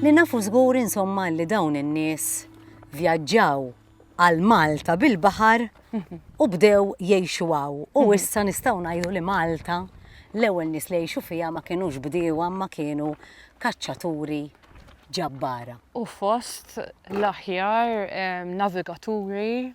Li nafu żgur insomma li dawn in-nies vjaġġaw għal Malta bil-baħar u bdew jgħixu għaw. U mhm. issa nistgħu ngħidu li Malta l-ewwel nies li jgħixu fiha ma kinux bdiewa ma kienu kaċċaturi ġabbara. U fost l-aħjar navigaturi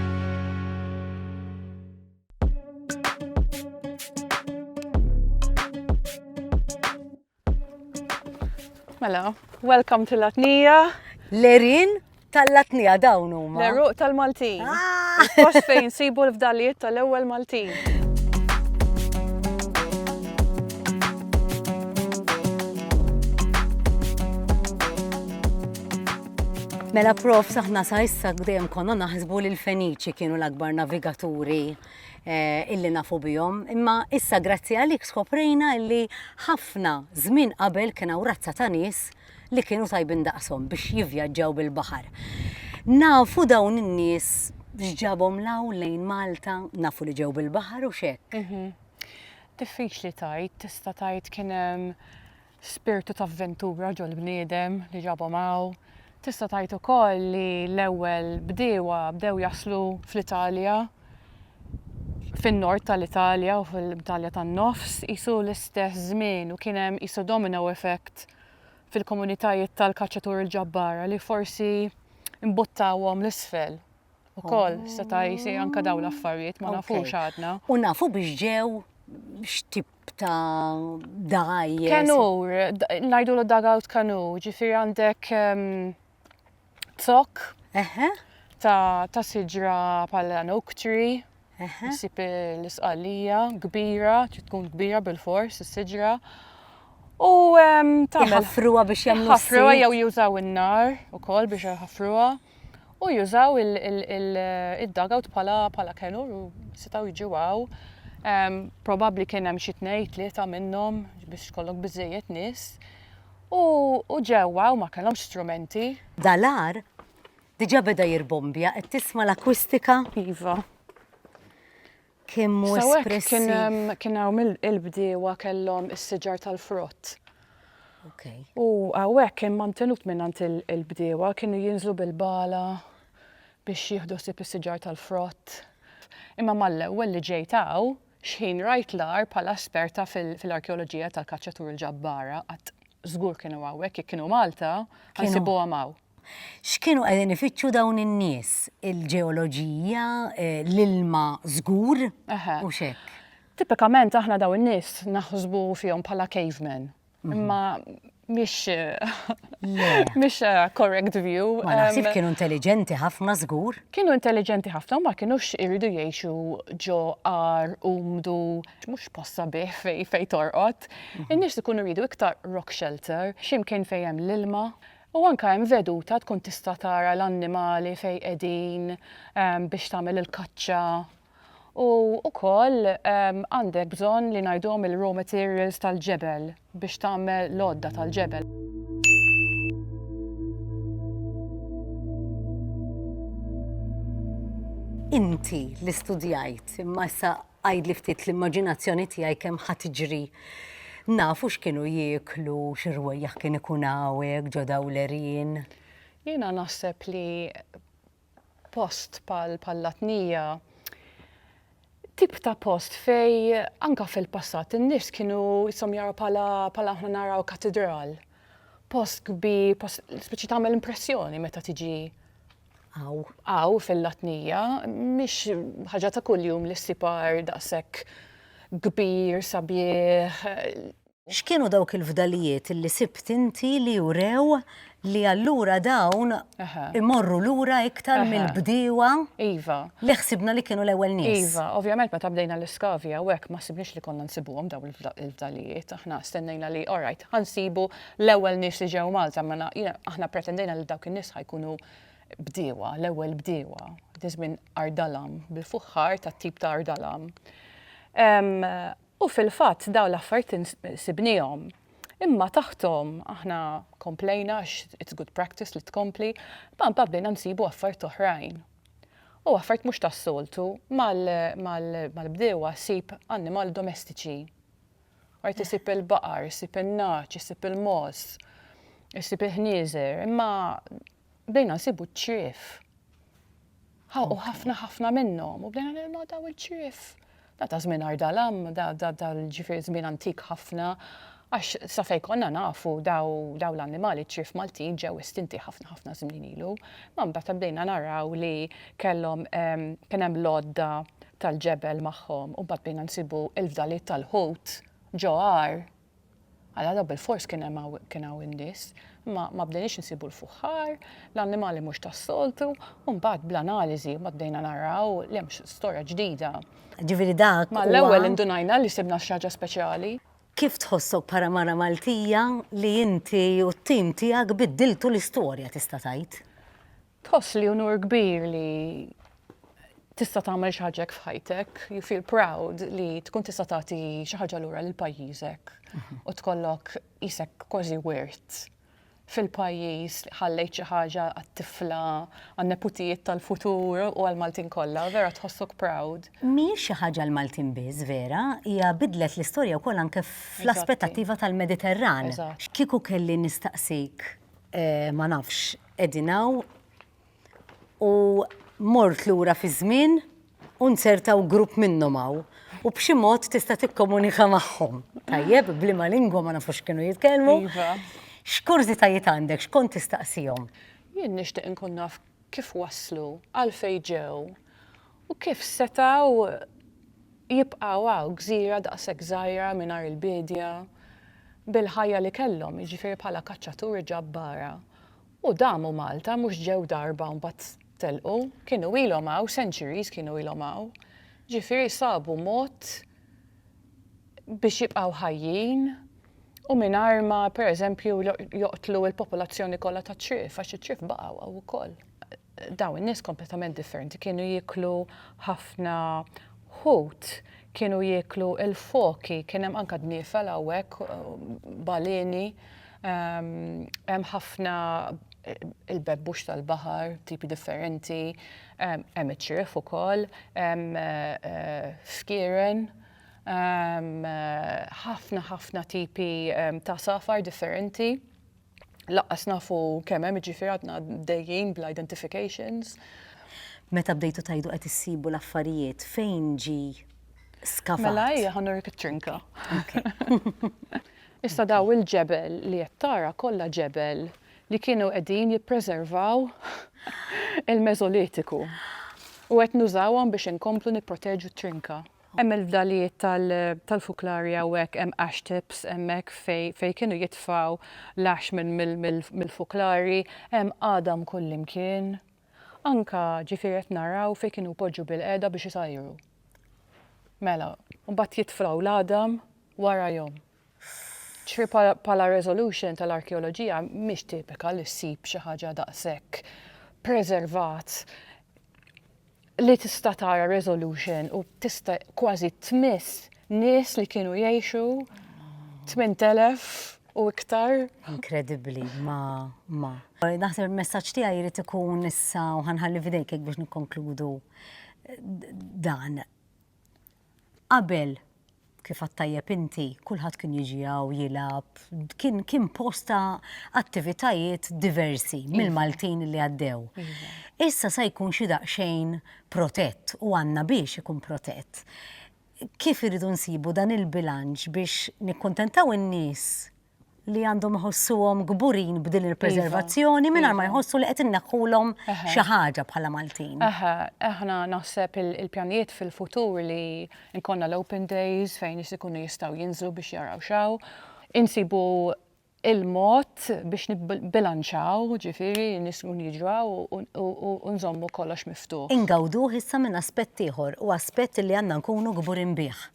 Mela, welcome to Latnija. Lerin tal-Latnija dawn huma. Leruq tal-Maltin. Ah! Post fejn sibu l-fdalijiet tal-ewwel Maltin. Mela prof, saħna sa issa dejjem konna naħsbu li l-Feniċi kienu l-akbar navigaturi eh, illi nafu bihom, imma issa grazzi għalik skoprejna illi ħafna żmien qabel kien hawn razza ta' nies li kienu tajbin daqshom biex jivvjaġġaw bil-baħar. Nafu dawn in-nies x'ġabhom law lejn Malta, nafu li ġew bil-baħar u xek. Mhm. Diffiċli tajt, tista' tajt kien hemm spirtu ta' avventura ġol-bniedem li ġabhom hawn. Tista' tgħid ukoll li l-ewwel bdiewa bdew jaslu fl-Italja, fin-nord tal-Italja u fil-Italja tan-nofs, qisu l-istess żmien u kien hemm qisu domino effect fil-komunitajiet tal-kaċċaturi l-ġabbara li forsi mbuttawhom 'l isfel. U koll, oh. seta jisir anka daw l-affarijiet, ma nafux għadna. U nafu biex ġew xtib ta' daj. Kanur, najdu l dugout kanur, ġifir għandek ehm, tok ta' siġra pal-oak tree. Issib l-isqallija kbira, trid tkun kbira bil-fors, is-siġra. U tagħmel. Ħafruha biex jagħmlu. Ħafruha jew jużaw in-nar ukoll biex ħafruha. U jużaw id-dugout bħala kenur u setaw jiġu għaw. Probabbli kien hemm xi tnejn tlieta minnhom biex kollok biżejjed nies. U ġewwa u ma kellhomx strumenti. Dalar Diġa beda jirbombja, qed tisma' l-akwistika? Iva. Kemm hu espressiv. Kien hawn il-bdiewa kellhom is-siġar tal-frott. Okay. U hawnhekk kien mantenut mingħand il-bdiewa kienu jinżlu bil-bala biex jieħdu sib is-siġar tal-frott. Imma mal-ewwel li ġejt hawn, xħin rajt l-għar bħala esperta fil-arkeoloġija tal-kaċċatur il-ġabbara qatt żgur kienu hawnhekk jekk kienu Malta, ħansibuhom hawn. X'kienu qegħdin ifittxu dawn in-nies? Il-ġeoloġija, l-ilma żgur, u x'hekk. Tipikament aħna dawn in-nies naħsbu fihom bħala cavemen. Imma mhix mhix correct view. Ma naħsibx kienu intelliġenti ħafna żgur. Kienu intelliġenti ħafna u ma kinux iridu jgħixu ġo għar umdu mhux post sabiħ fejn fejn torqod. In-nies ikunu jridu iktar rock shelter, xi mkien fejn hemm l-ilma, U anke hemm veduta tkun tista' tara l-annimali fejn qegħdin biex tagħmel il-kaċċa. U wkoll għandek bżonn li ngħiduhom il-raw materials tal-ġebel biex tagħmel l-għodda tal-ġebel. Inti li studjajt imma issa Għidli ftit l-immaġinazzjoni tiegħi kemm ħa tiġri. Nafu x'kienu jieklu, xi rwejjaħ kien ikun hawnhekk ġo Dawlerin. Jiena naħseb li post bħal Latnija, tip ta' post fej anka fil-passat in-nies kienu jisom jaraw bħala bħala aħna naraw katidral. Post kbir, post speċi tagħmel impressjoni meta tiġi Hawn. Hawn fil-Latnija mhix ħaġa ta' kuljum li ssib għar daqshekk kbir, sabiħ. X'kienu dawk il-fdalijiet li sibt inti li wrew li allura dawn imorru lura iktar mill-bdiewa li ħsibna li kienu l-ewwel nies? Iva, ovvjament meta bdejna l-iskavji hawnhekk ma ħsibniex li konna nsibuhom dawn il-fdalijiet. Aħna stennejna li alright, ħa nsibu L-ewwel nies li ġew Malta mela jiena aħna pretendejna li dawk in-nies ħa jkunu bdiewa, l-ewwel bdiewa. Dak iż-żmien ardalam, bil-fuħħar tat-tip ta' ardalam. U fil-fatt dawn l-affarijiet sibniehom. Imma taħthom aħna komplejna għax it's good practice li tkompli, imma mbagħad bdejna nsibu affarijiet oħrajn. U affarijiet mhux tas-soltu, mal-bdiewa ssib annimal domestiċi. Art isib il-baqar, isib in-nagħaġ, isib il-mogħoż, isib il-ħnieżer, imma bdejna nsibu ċ-ċrif. U ħafna ħafna minnhom, u bdejna nilma daw il-ċrif. Da ta' żmien ardalam, da l-ġifier żmien antik ħafna, għax sa fejn konna nafu daw l-annimali ċrif Maltin ġew estinti ħafna ħafna żmien ilu. Ma mbagħad bdejna naraw li kellhom kien hemm l-għodda tal-ġebel magħhom u mbagħad bdejna nsibu l-fdalijiet tal-ħut ġo għar, alla dawn bilfors kien hemm hawn kien hawn in-nies, imma ma bdejniex insibu l-fuħħar, l-annimali mhux tas-soltu, u mbagħad bl-analiżi mbagħad bdejna naraw li hemm storja ġdida. Ġifieri dak huwa. Mal-ewwel indunajna li sibna xi ħaġa speċjali. Kif tħossok bħala mara Maltija li inti u t-tim tiegħek biddiltu l-istorja tista' tgħid? Tħoss li unur kbir li tista' tagħmel xi ħaġa f'ħajtek, you feel proud li tkun tista' tagħti xi ħaġa lura lil pajjiżek mhm. u tkollok isek kważi wirt fil-pajjiż li ħallejt xi ħaġa għat-tifla għan-neputijiet tal-futur u għal-Maltin kollha, vera tħossok proud. Mhijiex xi ħaġa l-Maltin biss, vera, hija bidlet l-istorja wkoll anke fl-aspettattiva tal-Mediterran. Kieku kelli nistaqsik eh, ma nafx Qegħdin hawn u mort lura fiż-żmien u nzertaw grupp minnhom hawn u b'xi mod tista' tikkomunika magħhom. Tajjeb, bliema lingwa ma nafux kienu jitkellmu. Iva. X'kurżitajiet għandek, x'kont tistaqsihom? Jien nixtieq inkun naf kif waslu, għalfejn ġew U kif setgħu jibqgħu hawn, gżira daqshekk żgħira mingħajr il-biedja, bil-ħajja li kellhom, jiġifieri bħala kaċċaturi ġabbara. U damu Malta, mhux ġew darba u mbagħad telqu, kienu ilhom hawn, centuries kienu ilhom hawn. Ġifieri sabu mod biex jibqgħu ħajjin u mingħajr ma, pereżempju, joqtlu l-popolazzjoni kollha tat-Trief, għax it-Trief baqgħu hawn ukoll. Dawn in-nies kompletament differenti kienu jieklu ħafna ħut, kienu jieklu l-foki, kien hemm anke dniefel hawnhekk, baleni, ehm, hemm ħafna il-bebbux tal-baħar, tipi differenti, ehm, hemm iċ-ċriev ukoll, hemm eh, fkieren, ehm, ħafna ħafna tipi ehm, ta' safar differenti. Lanqas nafu kemm hemm jiġifieri għadna dejjin bl-identifications. Meta bdejtu tgħidu qed issibu l-affarijiet, fejn ġi skavat? Mela ejja ħa nurik it-trinka. Issa daw il-ġebel li qed tara kollha ġebel li kienu qegħdin jippreservaw il-Meżolitiku u qed nużawhom biex inkomplu nipproteġu t-trinka. Hemm il-fdalijiet tal-fuklarji hawnhekk, hemm ash tips hemmhekk fejn kienu jitfgħu l-ash mill-fuklarji, hemm għadam kullimkien. Anke ġifieri qed naraw fejn kienu jpoġġu bilqiegħda biex isajru. Mela, u mbagħad jitfgħu l-għadam wara jom. Ġifieri bħala resolution tal-arkeoloġija mhix tipika li ssib xi ħaġa daqshekk preservat li tista' tara resolution u tista' kważi tmiss nies li kienu jgħixu 8,000 u iktar. Inkredibbli, ma, ma. Naħseb il-messaġġ tiegħi jrid ikun issa u ħanħalli f'idejk hekk biex nikkonkludu dan. Qabel, kif għadt tajjeb inti, kulħadd kien jiġi hawn jilgħab, kien kien post ta' attivitajiet diversi iva. mill-Maltin li għaddew. Iva. Issa se jkun xi daqsxejn protett u għandna biex ikun protett. Kif irridu nsibu dan il-bilanċ biex nikkuntentaw in-nies li għandhom iħossuhom kburin b'din il-preservazzjoni iva. mingħajr ma iva. jħossu li qed inneħħulhom xi ħaġa bħala Maltin. Eħe, aħna naħseb il-pjanijiet fil-futur li nkonna l-open days fejn nies ikunu jistgħu jinżlu biex jaraw xaw. Insibu il-mod biex nibbilanċaw, ġifiri, nismu jiġraw u nżommu kollox miftuħ. Ingawdu issa minn aspett ieħor u aspett li għandna nkunu gburin bih.